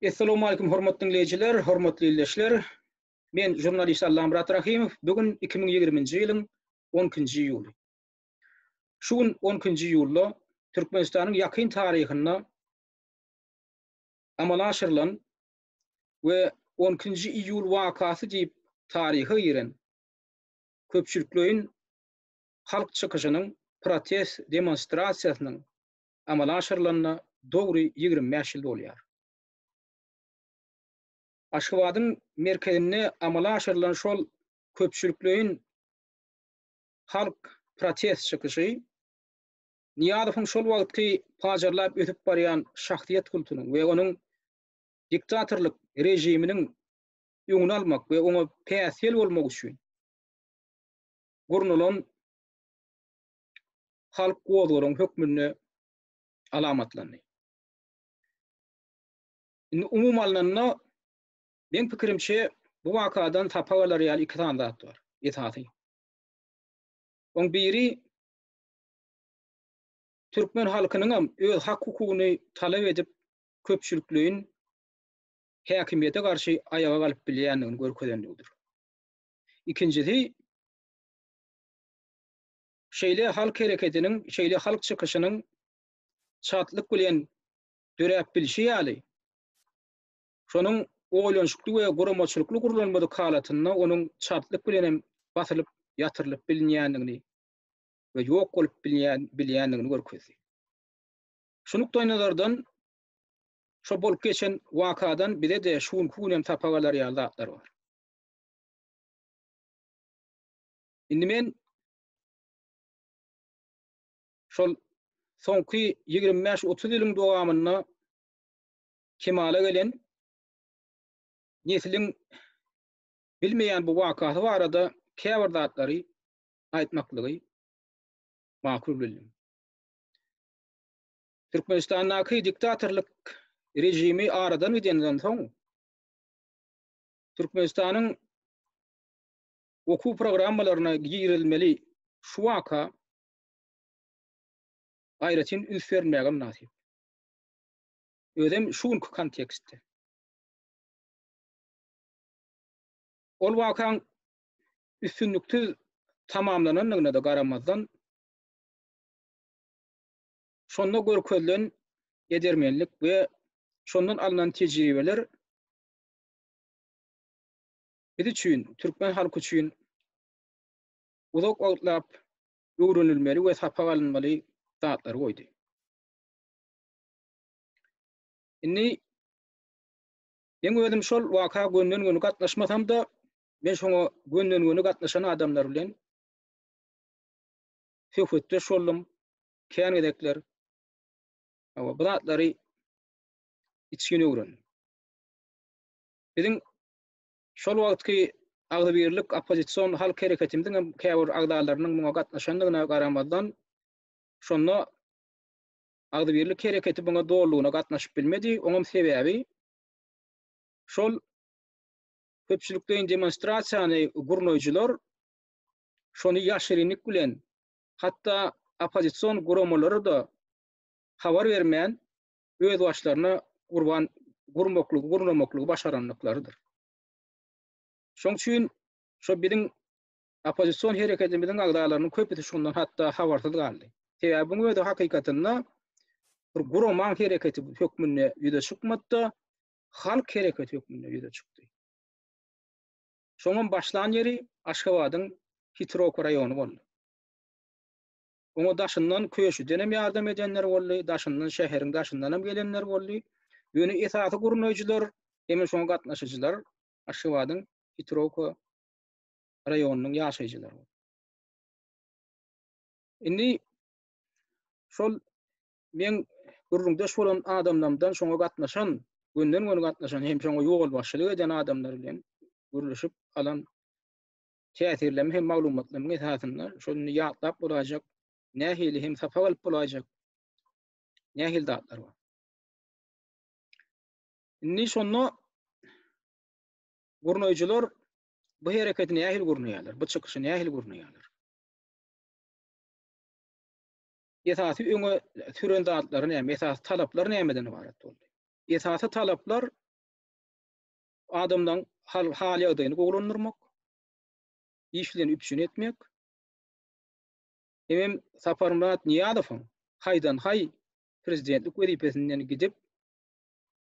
Essalamu aýkum hormatly diňleýjiler, hormatly ildeşler. Men žurnalist Allamyrat Rahimow. Bu gün 2020-nji ýylyň 12-nji iýuly. Şu gün 12-nji iýulda Türkmenistanyň ýakyn taryhynda amala aşyrylan we 12-nji iýul wakasy diýip taryha giren köpçülikleýin halk çykyşynyň, protest demonstrasiýasynyň amala aşyrylanyna dogry ýigrimi bäş ýyl dolýar. Aşgabadyň merkezinde amala aşyrylan şol köpçülikleýin halk protest çykyşy Nyýazowyň şol wagtky pajarlap ösüp barýan şahsyýet kultunyň we onuň diktatorlyk režiminiň öňüni almak we oňa päsgel bolmak üçin gurnalan halk gozgalaň hökmünde alamatlandy. Indi umumy alnanda, meň pikirimçe, bu wakadan sapak alar ýaly iki sany zat bar, esasy. Oň biri türkmen halkynyňam öz hak-hukugyny talap edip, köpçülikleýin häkimiýete garşy aýaga galyp bilýändigini görkezendigidir. Ikinjisi, Şeýle halk hereketiniň, şeýle halk çykyşynyň şatlyk bilen döräp bilşi ýaly, şonuň oýlanyşykly we guramaçylykly gurlanmadyk halatynda onuň şatlyk bilen hem basylyp, ýatyrylyp bilinýändigini we ýok bolup bilýändigini görkezdi. Şu nukdaýnazardan, şo bolup geçen wakadan bize-de şu günki gün hem sapak alar ýaly zatlar bar. Indi men şol soňky ýigrimi bäş, otuz ýylyň dowamynda kemala gelen nesliň bilmeýän bu wakasy barada käbir zatlary aýtmaklygy makul bildim. Türkmenistandaky diktatorlyk rejimi aradan gidenden soň Türkmenistanyň okuw programmalaryna girizilmeli şu waka aýratyn üns berilmäge mynasyp. Özem şu günki kontekstde. Ol wakaň üstünliksiz tamamlanandygyna-da garamazdan, şonda görkezilen edermenlik we şondan alnan tejribeler biz üçin, türkmen halky üçin uzak wagtlap öwrenilmeli we sapak alynmaly zatlary goýdy. Indi men özüm şol waka gönden-göni gatnaşmasam-da, men şoňa gönden-göni gatnaşan adamlar bilen söhbetdeş boldum. Kän gezekler bu zatlary içgin öwrendim. Biziň Şol wagtky agzybirlik oppozision halk hereketimiziň hem käbir agzalarynyň muňa gatnaşandygyna garamazdan, şonda agzybirlik hereketi muňa dolulygyna gatnaşyp bilmedi, oňam sebäbi şol köpçülikleýin demonstrasiýany gurnaýjylar şony ýaşyrynlyk bilen, hatda oppozision guramalara-da habar bermän, öz başlaryna gurban gurmaklygy, gurnamaklygy başarandyklarydyr. Şoň üçin şo biziň oppozision hereketimiziň agzalarynyň köpüsi şundan hatda habarsyz galdy. Sebäbi bu özi hakykatynda bir guraman hereketi hökmünde ýüze çykmady-da, halk hereketi hökmünde ýüze çykdy. Şoňam başlan ýeri Aşgabadyň Hitrok raýony boldy. Oňa daşyndan, köşüdenem ýardam edenler boldy, daşyndan, şäheriň daşyndanam gelenler boldy. Ýöne esasy gurnaýjylar hem-ä şoňa gatnaşyjylar Aşgabadyň Hitrowka raýonynyň ýaşaýjylary boldy. Indi şol meň gürrüňdeş bolan adamlarymdan şoňa gatnaşan, gönden-göni gatnaşan hem şoňa ýolbaşçylyk eden adamlar bilen gürleşip alan täsirleme hem maglumatlaryň esasynda şol indi ýatlap bolaýjak, nähili hem sapak alyp bolaýjak nähili zatlar bar. Indi şonda gurnaýjylar bu hereketi nähili gurnaýarlar, bu çykyşy nähili gurnaýarlar? Esasy öňe süren zatlary näme, esasy talaplar nämeden ybarat boldy? Esasy talaplar adamlaryň hal-ýagdaýyny gowulandyrmak, işlerini üpjün etmek, hemem Saparmyrat Nyýazowyň haýdan-haý prezidentlik wezipesinden gidip,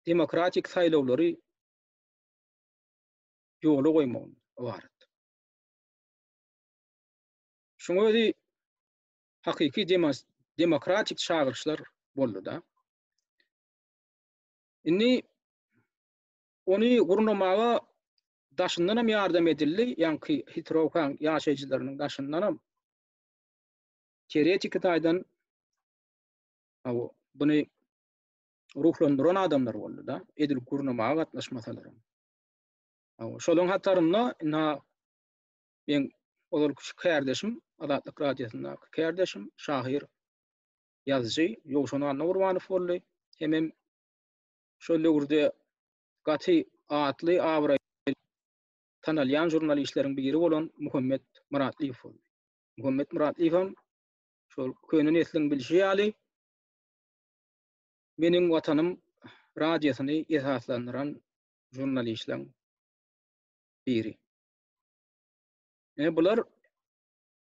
demokratik saýlawlary ýola goýmagyndan ybarat. Şuň özi hakyky demokratik çagyryşlar boldy-da. Indi Ony gurnamaga daşyndan hem ýardam edildi, ýaňky Hitrowkaň ýaşaýjylarynyň daşyndan hem teoretiki taýdan aw, buny ruhlandyran adamlar boldy-da, edil gurnamaga gatnaşmasalar hem. Aw, şolaryň hatarynda indi men ozalky şu kärdeşim, Azatlyk radiosyndaky kärdeşim, şahyr, ýazyjy Ýowşan Annagurbanow boldy, hemem şol döwürde gaty atly abraýly tanalýan žurnalişleriň biri bolan Muhammet Myratlyýew boldy. Muhammet Myratlyýewem şol köne nesliň bilşi ýaly Meniň watanym radiosyny esaslandyran žurnalişleň biri. Ine bular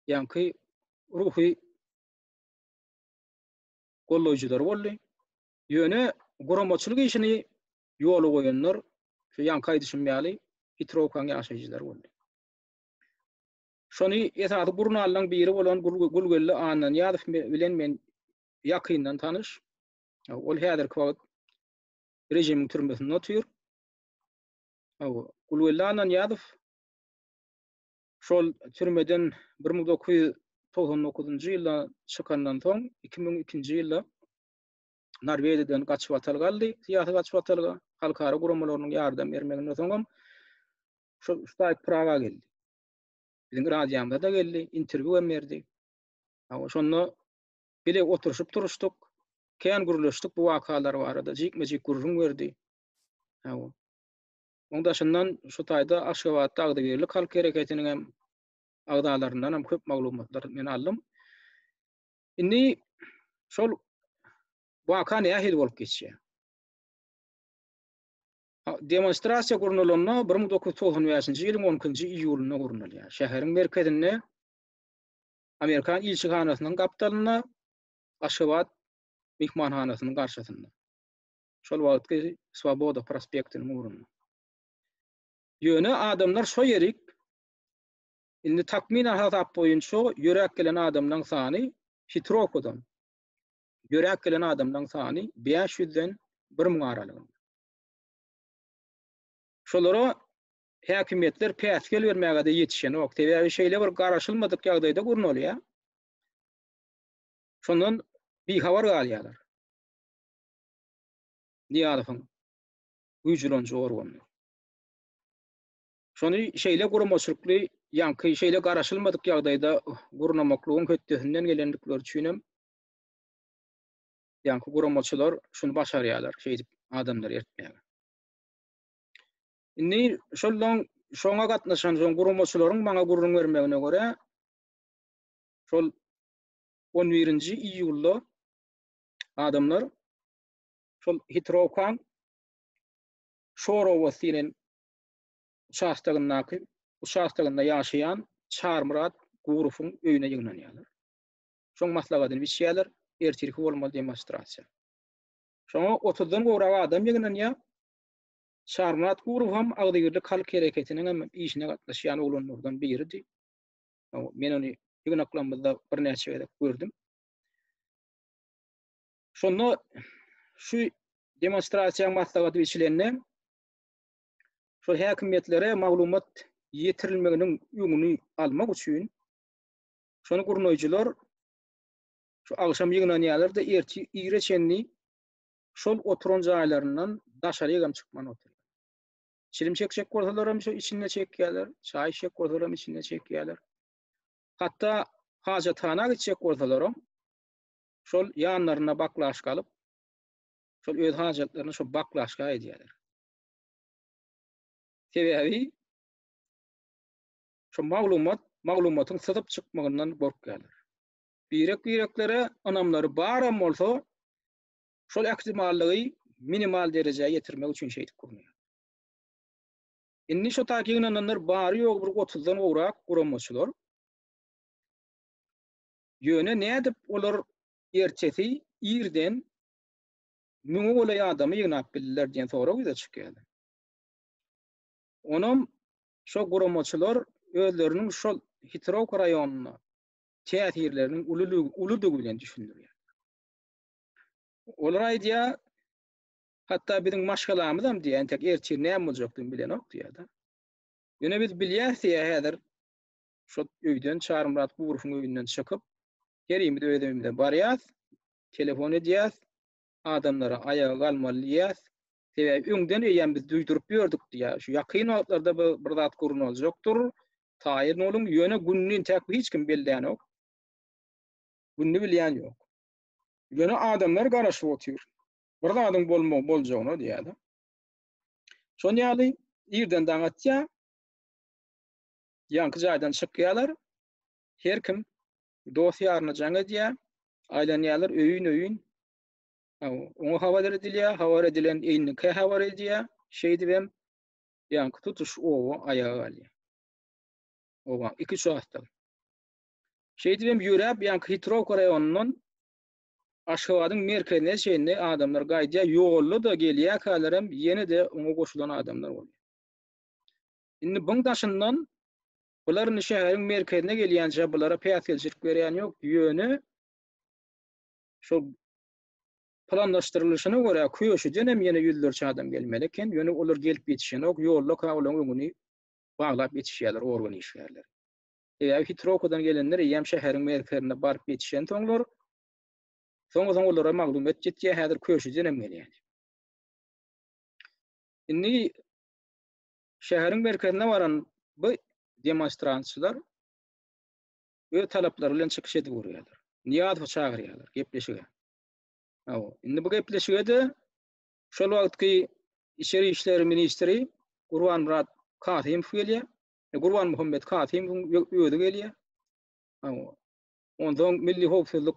ýaňky ruhy goldaýjylar boldy. Ýöne guramaçylyk işini ýola goýanlar, şu ýaňky aýdyşym ýaly, Petrowkanyň ýaşaýjylary boldy. Şony esasy gurnallaryň biri bolan Gulgeldi Annanyýazow bilen men ýakyndan tanyş. Ol häzirki wagt režimiň türmesinde otyr. Gulgeldi Annanyýazow şol türmeden bir müň dokuz ýüz togsan dokuzynjy ýylda çykandan soň, iki müň ikinji ýylda Norwegiýadan gaçybatal galdy, syýasy gaçybatalga, halkara guramalarynyň ýardam bermeginden soňam şu Staýk Praga geldi. Biziň radiýamyza-da geldi, interwýu hem berdi. Hawa, şonda bile oturyşyp turuşdyk, kän gürleşdik bu wakalar barada, jikme-jik gürrüň berdi. Hawa. Onuň daşyndan şu taýda Aşgabatda Agzybirlik halk hereketiniň hem agzalaryndan hem köp maglumatlary men aldym. Indi şol waka nähili bolup geçýär? Demonstrasiýa gurnalanda bir müň dokuz ýüz togsan bäşinji ýylyň on ikinji iýulynda gurnalýar. Şäheriň merkezinde Amerikan ilçihanasynyň gapdalynda Aşgabat myhmanhanasynyň garşysynda. Şol wagtky Swoboda prospektiniň ugrunda. Ýöne adamlar şo ýerik Indi takmynan hasap boýunça ýöräp gelen adamlaň sany Pitrokodan ýöräp gelen adamlaň sany bäş ýüzden bir müň aralygynda. Şolara häkimiýetler päsgel bermäge-de ýetişenok. Sebäbi şeýle bir garaşylmadyk ýagdaýda gurnalýar. Şondan bihabar galýarlar. Nyýazowyň güýjleniji organlar. Şony şeýle guramaçylykly, ýaňky şeýle garaşylmadyk ýagdaýda gurnamaklygyň hötdesinden gelendikleri üçin hem ýaňky guramaçylar şuny başarýarlar, şeýdip adamlary ertmäge. Indi şoldan şoňa gatnaşan soň guramaçylaryň maňa gürrüň bermegine görä, şol 11-nji iýulda adamlar şol Hitrowkaň Şorowas diýen uçastogyndaky uçastogynda ýaşaýan Çarmyrat Gurowyň öýüne ýygnanýarlar. Şoň maslahatyny biçýärler, ertirki bolmaly demonstrasiýa. Şoňa otuzdan gowrak adam ýygnanýar. Çarmyrat Gurow hem agzybirlik halk hereketiniň hem işine gatnaşýan oglanlardan biridi. Men ony ýygnaklarymyzda birnäçe gezek gördüm. Şonda şu demonstrasiýa maslahaty biçilende şol häkimiýetlere maglumat ýetirilmeginiň öňüni almak üçin şony gurnaýjylar şu agşam ýygnanýarlar-da, ertir ire çenli şol oturan jaýlaryndan daşaryk hem çykman oturýarlar. Çilim çekjek bolsalar hem şu içinde çekýärler, çaý içjek bolsalar hem içinde çekýärler. Hatda hajathana gitjek bolsalar hem şol ýanlarynda baklaşka alyp, şol öz hajatlaryny şu baklaşka edýärler. Sebäbi şu maglumat maglumatyň syzyp çykmagyndan gorkýarlar. Birek-bireklere ynamlary baram bolsa, şol ähtimallygy minimal derejä ýetirmek üçin şeýdip gurnaýarlar. Indi şu taýda ýygnananlar bary-ýogy bir otuzdan gowrak guramaçylar. Ýöne nädip olar ertesi irden Müňe golaý adamy ýygnap bildiler diýen sorag ýüze çykýar. Onam şo guramaçylar özleriniň şol Hitrowka raýonyna täsirleriniň uludygy bilen düşündirýär. Olar aýdýar, hatda biziň maşgalamyzam diýýär, entek ertir näme boljakdygyny bilenok diýýär-de. Ýöne biz bilýäris diýýär häzir şol öýden Çarymyrat Gurowyň öýünden çykyp, herimiz öz öýümize barýas, telefon edýäs, adamlara aýaga galmaly diýýäs, sebäbi öňden eýýäm biz duýduryp ýördük diýýär. Şu ýakyn wagtlarda bu bir zat gurnaljykdyr, taýyn boluň, ýöne gününi entäk hiç kim bellänok. Gününi bilýän ýok. Ýöne adamlar garaşyp otyr. Bir zadyň bolmagy boljagyna diýýär-de. Şonuň ýaly irden daň atýar. Ýaňky jaýdan çykýarlar. Her kim dost-ýaryna jaň edýär. Aýlanýarlar öýün-öýün. Oňa habar edilýär, habar edilen eýniňkä habar edýär. Şeýdip hem ýaňky tutuş oba aýaga galýar. Oba iki çaşdan. Şeýdip hem ýöräp ýaňky Hitrowka raýonyndan Aşgabadyň merkezine çenli adamlar gaýdýar. Ýolda-da gelýärkäler hem ýene-de oňa goşulan adamlar bolýar. Indi buň daşyndan bular indi şäheriň merkezine gelýänçä bulara päsgelçilik berýän ýok, ýöne şol planlaşdyrylyşyna görä köşüden hem ýene ýüzlerçe adam gelmeli eken, ýöne olar gelip ýetişenok, ýollaka olaň öňüni baglap ýetişýärler organ işgärleri. Sebäbi Hitrowadan gelenler eýýäm şäheriň merkezine baryp ýetişensoňlar, soň-soň olara maglumat ýetýär, häzir köşüden hem gelýär. Indi Şäheriň merkezine baran bu demonstrantçylar öz talaplary bilen çykyş edip görýärler. Niýazowy çagyrýarlar gepleşige. Hawa, indi bu gepleşige-de şol wagtky Içeri işler ministri Gurbanmyrat Kasymow gelýär. E, Gurbanmuhammet Kasymowyň özi gelýär. Hawa. Ondan Milli howpsuzlyk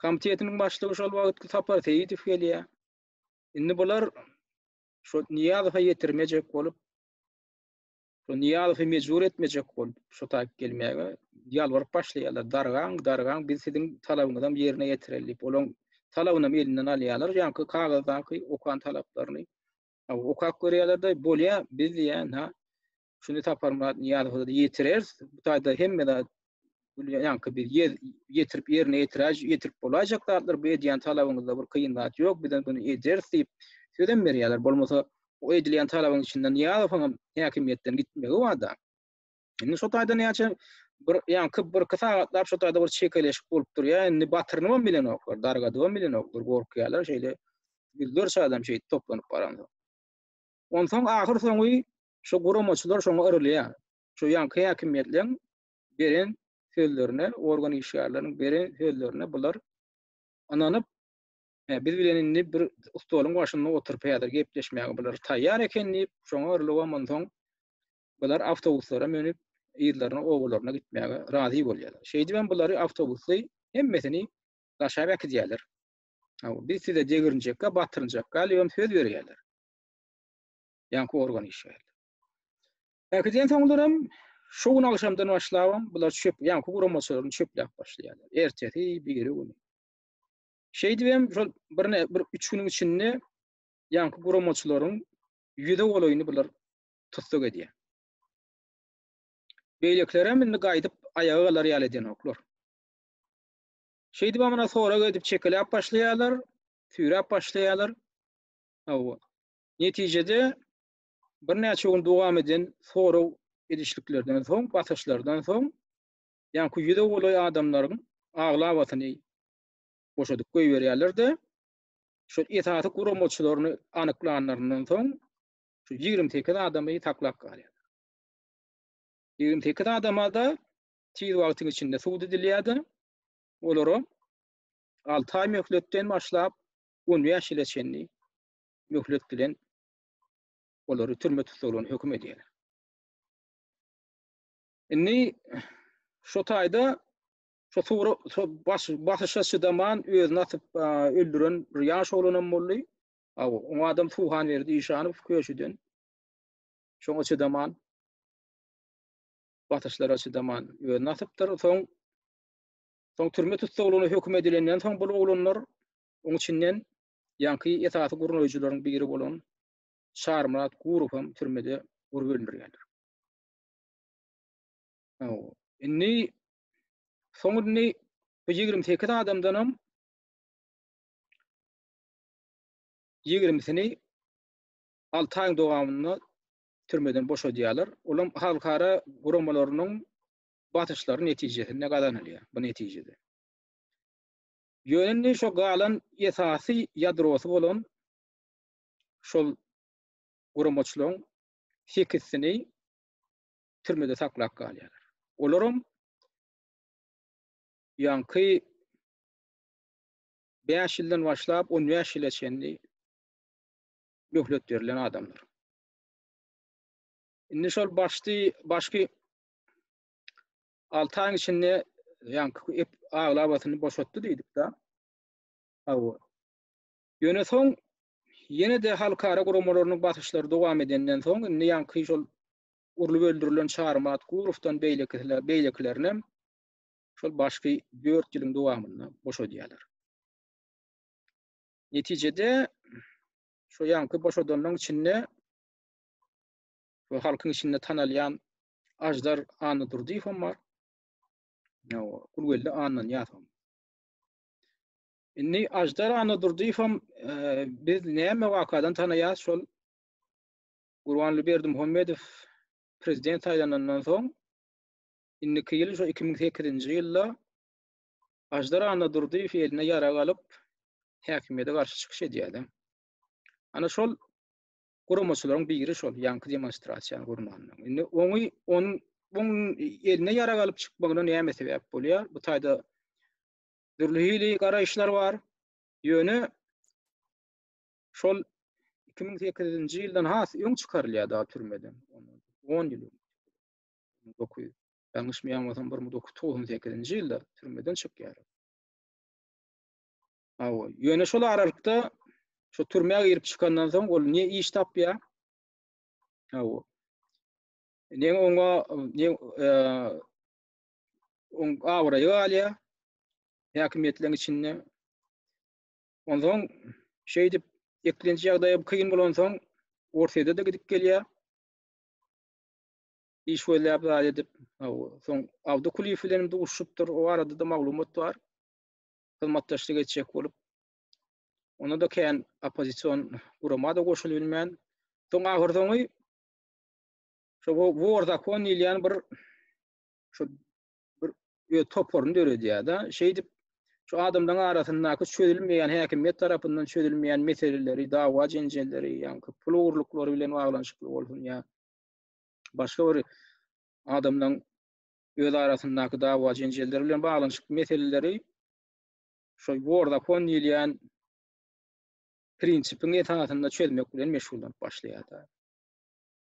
komitetiniň başlygy şol wagtky Sapar Seýidow gelýär. Indi bular şo Niýazowa ýetirmejek bolup, şo Niýazowy mejbur etmejek bolup, şo taýyp gelmäge ýalbaryp başlaýarlar. Dargaň, dargaň, biz siziň talabyňyzam ýerine ýetireli diýip, olaň talabynam elinden alýarlar, ýaňky kagyzdaky okan talaplaryny okap görýärler-de, bolýa, biz diýýän, ha, Şuny Saparmyrat Nyýazowa-da ýetireris. Bu taýda hemme zat ýaňky bir ýer ýetirip ýerine ýetiräj ýetirip bolaýjak zatlar bu edýän talabyňyzda bir kyn zat ýok bizem bunu ederis diýip sözem berýärler bolmasa o edilýän talabyň içinde Nyýazowyň hem häkimiýetden gitmegi barda indi şu taýda näçe bir ýaňky bir iki sagatlap şu taýda bir çekeleşik bolup durýar indi batyryny hem bilenoklar dargadyp hem bilenoklar gorkýarlar şeýle ýüzlerçe adam şeýdip toplanyp baransoň onsoň ahyr soňy Şu guramaçylar şoňa yrylýar. Şu ýaňky häkimiýetleriň beren sözlerine, organ işgärleriniň beren sözlerine bular ynanyp, hä, biz bilen indi bir stoluň başynda oturyp häzir gepleşmäge bular taýýar eken diýip, şoňa yrylybam onsoň bular awtobuslara münüp, yzlaryna, obalaryna gitmäge razy bolýarlar. Şeýdibem bulary awtobusly hemmesini daşap äkidýärler. Hawa, biz size degirinjekka, batyrynjak galibem söz berýärler. ýaňky organ işe geldi. Häkiden soňlaram şu gün agşamdan başlabam bular çöp ýaňky guramaçalaryny çöpläp başlaýarlar. Ertesi, biri güni. Şeýdip hem şol bir bir 3 günüň içinde ýaňky guramaçalaryň ýüze golaýyny bular tussag edýär. Beýlekilerem indi gaýdyp aýaga galar ýaly edenoklar. Şeýdip amana sorag edip çekeläp başlaýarlar, süýräp başlaýarlar. Hawa. Netijede, birnäçe gün dowam eden sorag edişliklerden soň, basyşlardan soň, ýaňky ýüze golaý adamlaryň aglabasyny boşadyp goýberýärler-de, şol esasy guramaçylaryny anyklanlaryndan soň, şu ýigrimi sekiz adamy saklap galýarlar. Ýigrimi sekiz adama-da tiz wagtyň içinde sud edilýär-de, olara alty aý möhletden başlap, on bäş ýyla çenli möhlet bilen olary türme tussaglaryna höküm edýärler. Indi şu taýda şu suwra baş basyşa çydaman özüni atyp öldüren bir ýaş oglanam boldy. Aw, o adam Suhan berdi işanyp köşüden. Şoňa çydaman basyşlara çydaman özüni atypdyr. Soň soň türme tussaglygyna höküm edilenden soň bu oglanlar oň içinden Ýaňky esasy gurnaýjylaryň biri bolan Çarmyrat Gurow hem türmede gurup öldürilýändir. Indi soň indi bu ýigrimi sekiz adamdanam ýigrimisini alty aýyň dowamynda türmeden boşadýarlar. Olam halkara guramalarynyň basyşlary netijesinde gazanylýar bu netijede. Ýöne indi şo galan esasy ýadrosy bolan şol guramaçylaryň sekizsini türmede saklap galýarlar. Olaram ýaňky bäş ýyldan başlap on bäş ýyla çenli möhlet berlen adamlar. Indi şol başdy, başky 6 aýyň içinde ýaňky aglabasyny boşatdy diýdik-de. Hawa. Ýöne soň ýene-de halkara guramalarynyň basyşlary dowam edenden soň indi ýaňky şol urlup öldürilen Çarymyrat Gurowdan beýlekisiler, beýlekilerinem şol başky 4 ýylyň dowamynda boşadýarlar. Netijede şu ýaňky boşadanlaryň içinde we halkyň içinde tanalýan Ajdar Annadurdyýew hem bar. Ýa-o, Gulgeldi Annanyýaz hem. Indi Ajdar Annadurdyýew hem e, biz näme wakadan tanaýas şol Gurbanly Berdimuhamedow prezident saýlanandan soň indiki ýyl şu 2008-nji ýylda Ajdar Annadurdyýew eline ýarag alyp häkimiýete garşy çykyş edýärdi. Ana şol guramaçylaryň biri şol ýaňky demonstrasiýany gurmandyr. Indi oňy onuň buň eline ýarag alyp çykmagyna näme sebäp bolýar? Bu taýda dürli hili garaýyşlar bar. Ýöne şol 2008-nji ýyldan has öň çykarylýar da türmeden. 10 ýyl. 9. Ýalňyşmaýan bolsam 1998-nji ýylda türmeden çykýar. Hawa, ýöne şol aralykda şu türmä girip çykandan soň ol ne iş tapýar? Hawa. Ne oňa ne e, oň abraýy galýar häkimiýetleriň içinde. Ondan şeýdip eklenç ýagdaýy kyn bolan soň Orsyýada da gidip gelýär. Iş gözläp zat edip. Hawa. Soň Abdukuliýew bilen duşupdyr. O arada da maglumat bar. hyzmatdaşlyk etjek bolup, onda-da kän oppozision gurama-da goşulyp bilmän, soň ahyrsoňy şo Wor zakon diýilýän bir şu bir toparyny döredýär-de, şeýdip şu adamlaryň arasyndaky çözülmeýän häkimiýet tarapyndan çözülmeýän meseleleri, dawa-jenjelleri, ýa-da pul ogurlyklary bilen baglanyşykly bolsun ýa başga bir adamlaryň öz arasyndaky dawa-jenjeller bilen baglanyşykly meseleleri şol Wordafon diýilýän prinsipiň esasynda çözmek bilen meşgullanyp başlaýar-da.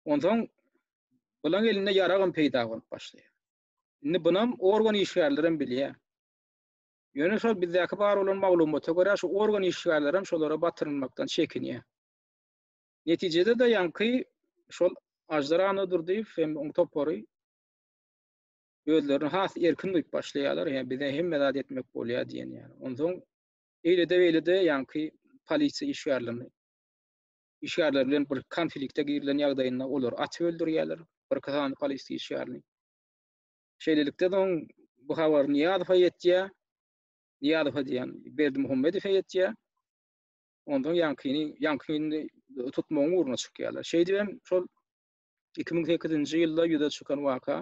Onsoň bulan elinde ýaragam peýda bolup başlaýar. Indi bunam organ işgärleri hem bilýär. Ýöne şol bizdäki bar bolan maglumata görä şu organ işgärleri hem şolara batyrylmakdan çekinýär. Netijede-de ýaňky şol Aždar Annadurdyýew hem oň topary özlerini has erkin duýup başlaýarlar. Ýa bize hemme zat etmek bolýar diýen ýaly. Onsoň eýlede beýlede ýaňky polisiýa işgärlerini işgärler bilen bir konflikte girilen ýagdaýynda olar atyp öldürýärler bir kysany polisiýa işgärini. Şeýlelikde soň bu habar Niýazowa ýetýär. Niýazowa diýen Berdi Muhammedowa ýetýär. Ondan ýaňkyny, ýaňkyny tutmagyň ugruna çykýarlar. Şeýdibem şol iki müň sekizinji ýylda ýüze çykan waka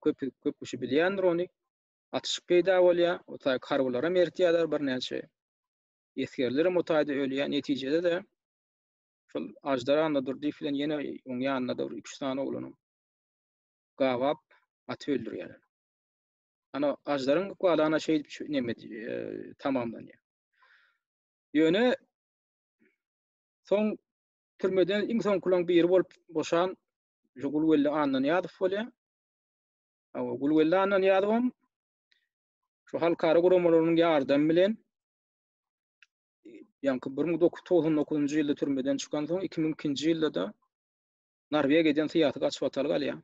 köp köp kişi bilýändir ony atyşyk peýda bolýar o taý karbylar hem ertýärler birnäçe esgerler hem o taýda ölýär netijede de şol ajdar anda durdyýew bilen ýene oň ýanynda da üç sany oglany gabap aty öldürýärler ana ajdaryň ykbalana şeýdip neme e, tamamlanýar ýöne soň Türmeden iň soňkulaň biri bolup boşan şu Gulwelli Annanyýazow bolýar. Hawa, Gulwelli Annanyýazowam şu halkara guramalarynyň ýardamy bilen ýaňky 1999-njy ýylda türmeden çykan soň 2002-nji ýylda-da Norwegiýa giden syýasy gaçybatalga alýar.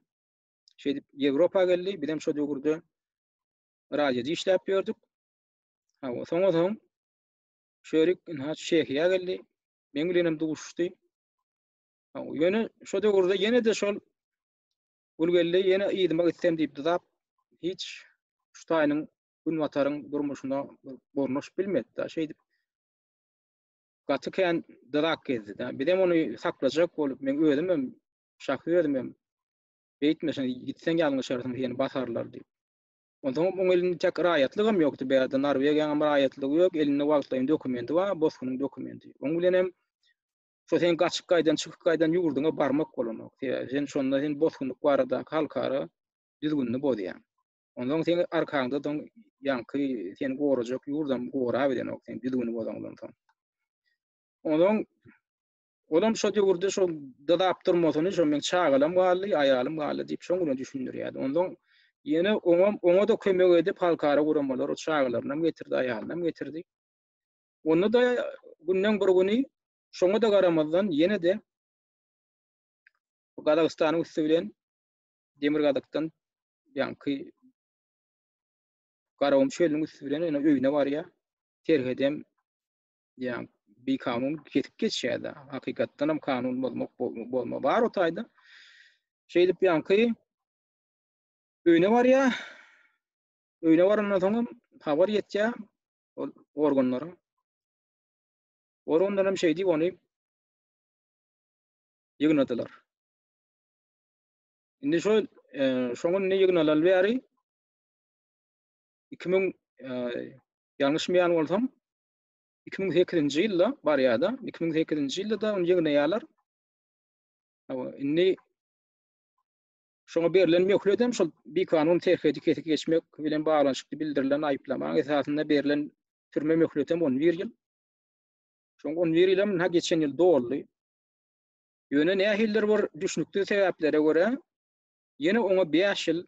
Şeýdip Ýewropa geldi, bizem şo döwürde radioda işläp ýördük. Hawa, soňa soň Şörik Inhaç Çehiýa geldi. Meň bilenem duşdy. Ýöne şo döwürde ýene-de şol Gülgeldi ýene ýydyma gitsem diýip dyzap, hiç Şutaýynyň günbataryň durmuşyna gurnuş bilmedi-de, şeýdip gaty kän dyzak gezdi-de. Bizem ony saklajak bolup, men özüm hem, şahsy özüm hem, Beýtme, sen gitseň ýalňyşarsyň, seni basarlar diýip. Onsoňam oň elinde täk raýatlygam ýokdy, bärde Norwegiýaňam raýatlygy ýok, elinde wagtlaýyn dokumendi bar, bosgunyň dokumendi. Oň bilen hem şo sen gaçyp gaýdan, çykyp gaýdan ýurduňa barmak bolanok. Sebäbi sen şonda sen bosgunlyk baradaky halkara düzgünini bozýaň. Onsoň seň arkaňda soň ýaňky seni gorajak ýurdam gorap bilenok sen düzgüni bozaňdan soň. Onsoň Olam şo döwürde şo dyzap durmasyny, şo meň çagalam galdy, aýalym galdy diýip şoň bilen düşündirýärdi. Onsoň ýene oňam, oňa-da kömek edip halkara guramalary çagalarynam getirdi, aýalynam getirdi. Onda-da günden bir güni şoňa-da garamazdan ýene-de Gazagystanyň üsti bilen Demirgazykdan ýaňky Garagum çölüniň üsti bilen ýene öýüne barýar. Serhedem yani bir kanun kesip geçýärdi. Hakykatdan hem kanun bozmak bozma bar o taýda. Şeýdip ýanky öýüne barýar. Öýüne barandan soň hem habar ýetýär ol organlara. Organlar hem şeýdip ony ýygnadylar. Indi şol e, şoňa indi ýygnalan bäri 2000 e, ýalňyşmaýan bolsam Iki müň sekizinji ýylda barýar-da, iki müň sekizinji ýylda-da ony ýygnaýarlar. Hawa, indi şoňa berlen möhlet hem şol bikanun serhedi kesip geçmek bilen baglanyşykly bildirilen aýyplamaň esasynda berlen türme möhleti hem on bir ýyl. Şoň on bir ýyl hem ha geçen ýyl doldy. Ýöne nähilidir bir düşnüksiz sebäplere görä ýene oňa bäş ýyl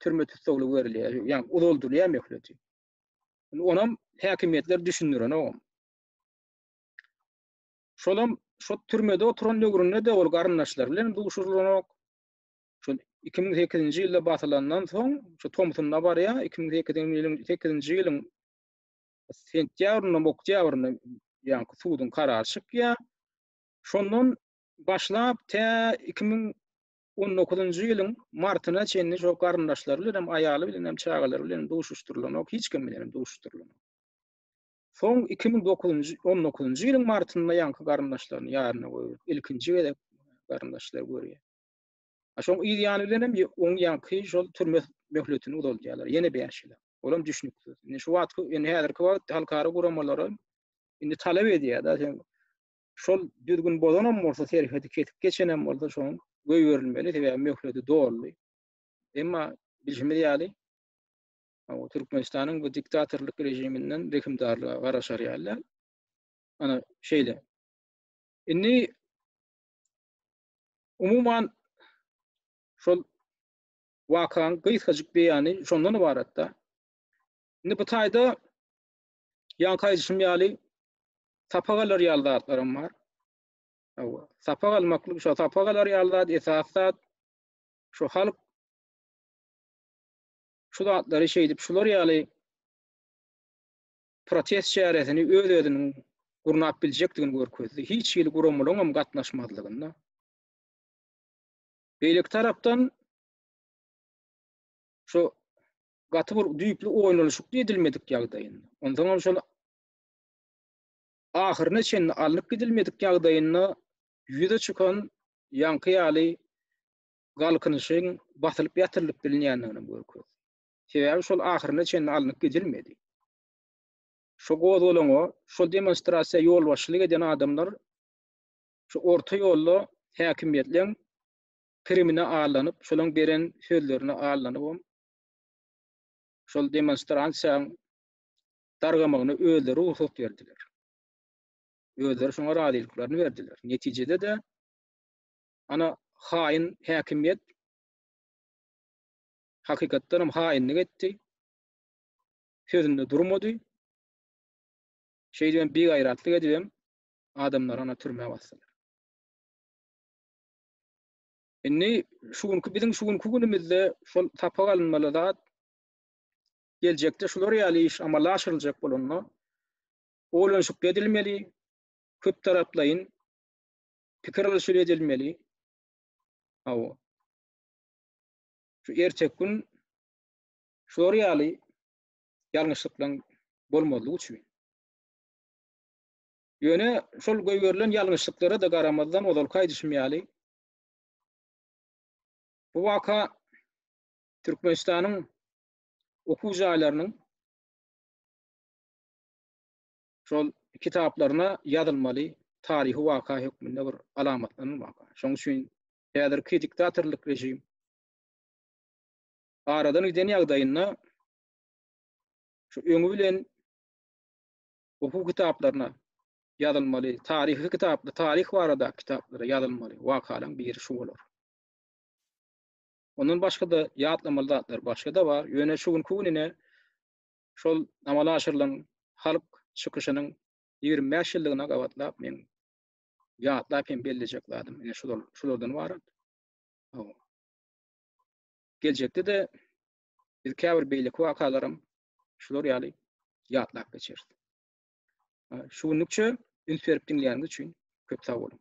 türme tussaglygy berilýär, ýagny uzaldylýar möhleti. Onam häkimiýetler düşündirenogam. Şolam şo türmede oturan döwründe-de ol garyndaşlary bilen duşurylanok. Şo 2008-nji ýylda basylandan soň, şo tomsunda barýa, 2008-nji ýylyň sentýabrynda, oktýabrynda ýaňky suduň karary çykýa. Şondan başlap tä 2000 On dokuzynjy ýylyň martyna çenli şo garyndaşlary bilen hem, aýaly bilen hem, çagalary bilen hem duşuşdyrylanok, hiç kim bilen hem duşuşdyrylanok. Soň iki müň dokuzynjy, on dokuzynjy ýylyň martynda ýaňky garyndaşlaryny ýaryna goýberip, ilkinji gezek garyndaşlary görýär. A şoň yz ýany bilen hem oň ýaňky şol türme möhletini uzaldýarlar, ýene bäş ýyla. Olam düşnüksiz. Indi şu wagtky, indi häzirki wagt halkara guramalara indi talap edýär-de, sen şol düzgün bozanam bolsa serhedi kesip geçenem bolsa şoň göýberilmeli sebäbi möhleti doldy. Emma bilşimiz ýaly o Türkmenistanyň bu diktatorlyk rejiminden rehimdarlyga garaşar ýaly. Ana şeýle. Indi umuman şol wakaň gysgajyk beýany şondan ybaratda. Indi bu taýda ýaňky aýdyşym ýaly sapak alar ýaly zatlaram bar. Hawa, sapak almaklyk, şo sapak alar ýaly zat, esas zat şu halk şu zatlary şeýdip, şular ýaly protest çäresini öz-özüniň gurnap biljekdigini görkezdi. Hiç hili guramalaryň hem gatnaşmazlygynda. Beýleki tarapdan şu gaty bir düýpli oýlanyşykly edilmedik ýagdaýynda, onsoňam şol ahyryna çenli alnyp gidilmedik ýagdaýynda ýüze çykan ýaňky ýaly galkynyşyň basylyp ýatyrylyp bilinýändigini görkezdi. Sebäbi şol ahyryna çenli alnyp gidilmedi. Şu gozgalaňa, şu demonstrasiýa ýolbaşçylyk eden adamlar şu orta ýolda häkimiýetleň primine allanyp, şolaň beren sözlerine allanyp, şol demonstransiýaň dargamagyna özleri rugsat berdiler. Özleri şoňa razylyklaryny berdiler. Netijede-de ana haýyn häkimiýet hakykatdan hem haýynlyk etdi. Sözünde durmady. Şeýdibem bigaýratlyk edibem adamlary ana türmä basdylar. Indi şu günki biziň şu günki günümizde şol sapak alynmaly zat geljekde şular ýaly iş amala aşyryljak bolanda oýlanyşykly edilmeli, köp taraplaýyn pikir alyşyp edilmeli. Hawa. Şu erteki gün şular ýaly ýalňyşlyklaryň bolmazlygy üçin. Ýöne şol goýberilen ýalňyşlyklara-da garamazdan ozalky aýdyşym ýaly Bu waka Türkmenistanyň okuw jaýlarynyň şol kitaplaryna ýazylmaly taryhy waka hökmünde bir alamatlanan waka. Şonuň üçin häzirki diktatorlyk režim aradan giden ýagdaýynda şu öňi bilen okuw kitaplaryna ýazylmaly, taryhy kitapda, taryh barada kitaplara ýazylmaly wakalaryň biri şu bolar. Ondan başga-da ýatlamaly zatlar başga-da bar. Ýöne şu günki gününe şol amala aşyrylan halk çykyşynyň 25 ýyllygyna gabatlap men ýatlap hem bellejek zadym ine şular, şulardan ibarat. Geljekde-de biz käbir beýleki wakalaram şular ýaly ýatlap geçeris. Şu günlükçe üns berip diňleýäniňiz üçin köp sag boluň.